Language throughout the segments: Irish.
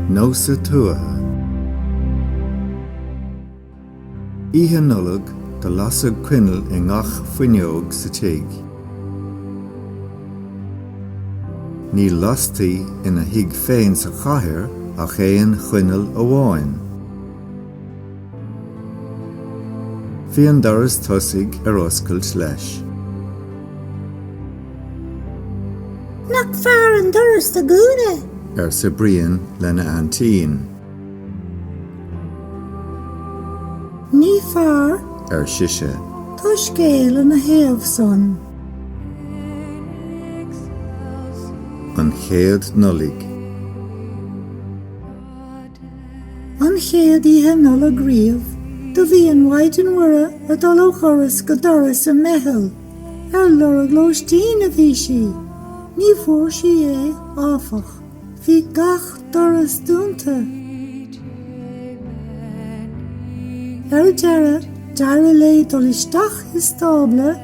Nósa Tuaithe. Oíche Nollag do lasadh coinneal i ngach fuinneog sa tigh. Ní lastaí ina thigh féin sa chathair ach aon choinneal amháin. Bhí an doras tosaigh ar oscailt leis. Nach fearr an doras do dhúnadh? arsa Brian lena aintín. Ní fearr, ar sise. Tá scéal ina thaobh san. An Chéad Nollaig. An chéad oíche Nollag riamh do bhí an Mhaighdean Mhuire ag dul ó dhoras go doras i mBeithil. Ar lorg lóistín a bhí sí. Ní bhfuair sí é, áfach. Bhí gach doras dúnta. Ar deireadh, d'éirigh léi dul isteach i stábla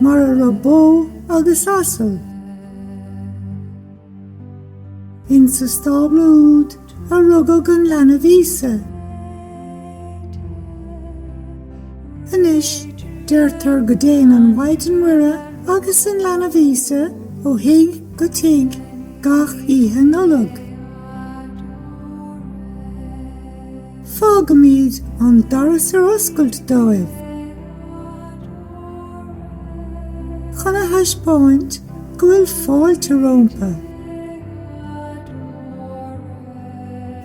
mar a raibh bó agus asal. Insa stábla úd a rugadh an leanbh Íosa. Anois, deirtear go dtéann an Mhaighdean Mhuire agus an leanbh Íosa ó thigh go tigh gach Oíche Nollag. Fágaimíd an doras ar oscailt dóibh. Chun a thaispeáint go bhfuil fáilte rómpa.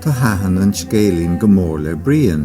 Thaitin an scéilín go mór le Brian.